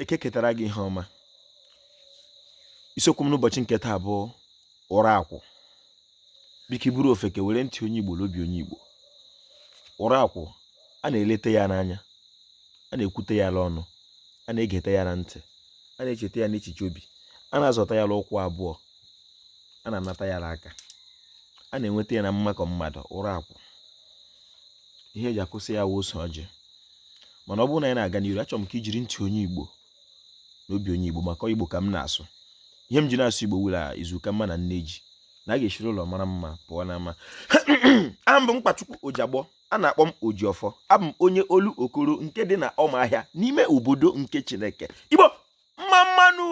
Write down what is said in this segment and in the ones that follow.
eke ketara gị ihe ọma isiokwu m n'ụbọchị nke taa bụ ụra akwụ biko ị bụrụ ofeke were ntị onye igbo n'obi onye igbo ụra akwụ a na-elete ya n'anya a na-ekwute ya n'ọnụ a na-egeta ya na ntị a na-echeta ya n'echiche obi a na-azọta ya n'ụkwụ abụọ a na-anata ya n'aka a na-enweta ya na mmakọ mmadụ ụra akwụ ihe e ji akwụsị ya wụ ose ọjị mana ọ bụrụ na anyị na-aga n'iru achọrọ m ka i jiri ntị onye igbo na obi onye igbo maka ọ igbo ka m na-asụ ihe m ji na-asụ igbo wụ la izu ka mma na nne ji na a ga-eshiri ụlọ mara mma pụọ n'ama aha m bụ mkpachukwu ojiagbọ a na-akpọ m ojiọfọ abụ m onye olokoro nke dị na ọmahịa n'ime obodo nke chineke igbo mma mma nụ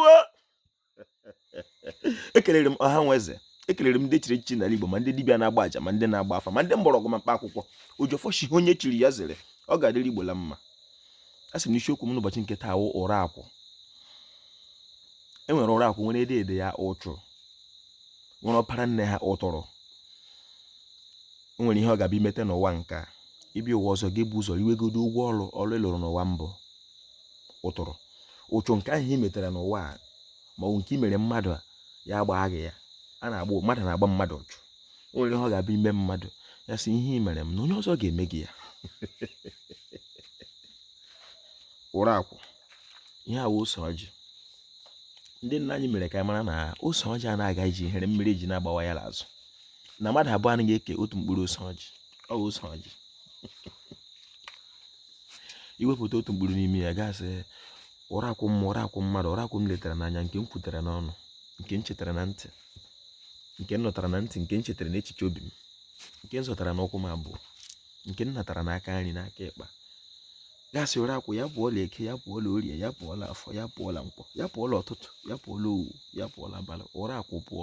ekelere m ọha nwe eze ekelere m ndị chiri echichi n'ala Igbo ma ndị dibịa na-agba aja ma ndị na-agba afa ma ndị mgbọrọgwụ ma mkpa akwụkwọ ojiọfọ shị onye chiri ya zere ọ ga-adịrị Igbo la mma a sị m n'isiokwu m n'ụbọchị nke taa wụ ụra akwụ e nwere ụra akwụ nwere dede ya ụchụ nwere ọpara nne ha ụtụrụ nwere ihe ọ ga-abịa imete n'ụwa nke a ị bịa ụwa ọzọ gị ebu ụzọ riwegodo ụgwọ ọrụ ọrụ ị lụrụ n'ụwa mbụ ụtụrụ ụchụ nke ahụ i metere n'ụwa a ma ọ bụ nke i mere mmadụ a ya gbaa gị ya a na-agba mmadụ na-agba mmadụ ụchụ o nwere ihe ọ ga-abịa ime mmadụ ya sị ihe i mere m na onye ọzọ ga-eme gị ya ụra akwụ ihe a wụ ose ọjị ndị nna anyị mere ka anyị mara na ose ọjị anaghị aga ije ihere mere e ji na-agbawa ya n'azụ na mmadụ abụọ anaghị eke otu mkpụrụ ose ọjị ọ bụ ose ọjị i wepụta otu mkpụrụ n'ime ya gị asị ụra akwụ m ụra akwụ mmadụ ụra akwụ m letara n'anya nke m kwutere n'ọnụ nke m getara na ntị nke m nụtara na ntị nke m chetara n'echiche obi m nke m zọtara n'ụkwụ m abụọ nke m natara n'aka nri n'aka ịkpa gị asị ụra akwụ ya pụọla eke ya pụọla orie ya pụọla afọ ya pụọla nkwọ ya pụọla ụtụtụ ya pụọla owu ya pụọla abalị ụra akwụ pụọ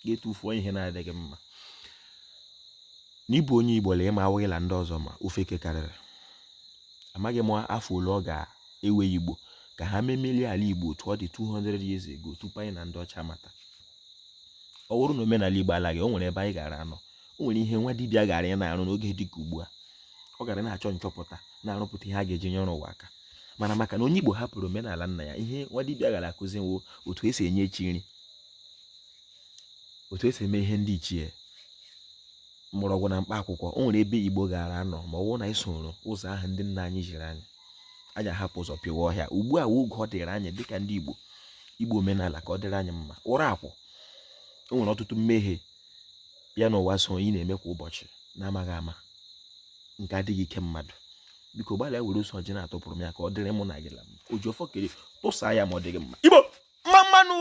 gị etufuo ihe na-adịghị mma N'ịbụ onye Igbo lee ma awụghị la ndị ọzọ ma ofeke karịrị. Amaghị m afọ ole ọ ga-ewe Igbo ka ha memelie ala Igbo otu ọ dị 200 years ago tupu anyị na ndị ọcha amata. Ọ bụrụ na omenala Igbo alaghị, o nwere ebe anyị gara anọ. O nwere ihe nwa dibịa gara ị na-arụ n'oge dị ka ugbu a. Ọ gara na-achọ nchọpụta na-arụpụta ihe a ga-eji nyere ụwa aka. Mana maka na onye Igbo hapụrụ omenala nna ya, ihe nwa dibịa gara akụzi nwo otu e si enye chi nri. otu esi eme ihe ndị ichie mgbọrọgwụ na mkpa akwụkwọ o nwere ebe igbo gaara anọ ma ọ bụrụ na anyị soro ụzọ ahụ ndị nna anyị ziri anyị anyị ahapụ ụzọ pịwa ọhịa ugbu a oge ọ dịrị anyị dịka ndị igbo igbo omenala ka ọ dịrị anyị mma ụra akwụ o nwere ọtụtụ mmehie ya na ụwa so ị na-eme kwa ụbọchị na-amaghị ama nke adịghị ike mmadụ biko gbalịa were ose ọjị na-atụpụrụ m ya ka ọ dịrị mụ na gị la mma oji ọfọ kere tụsa ya ma ọ dịghị mma igbo mma mmanụ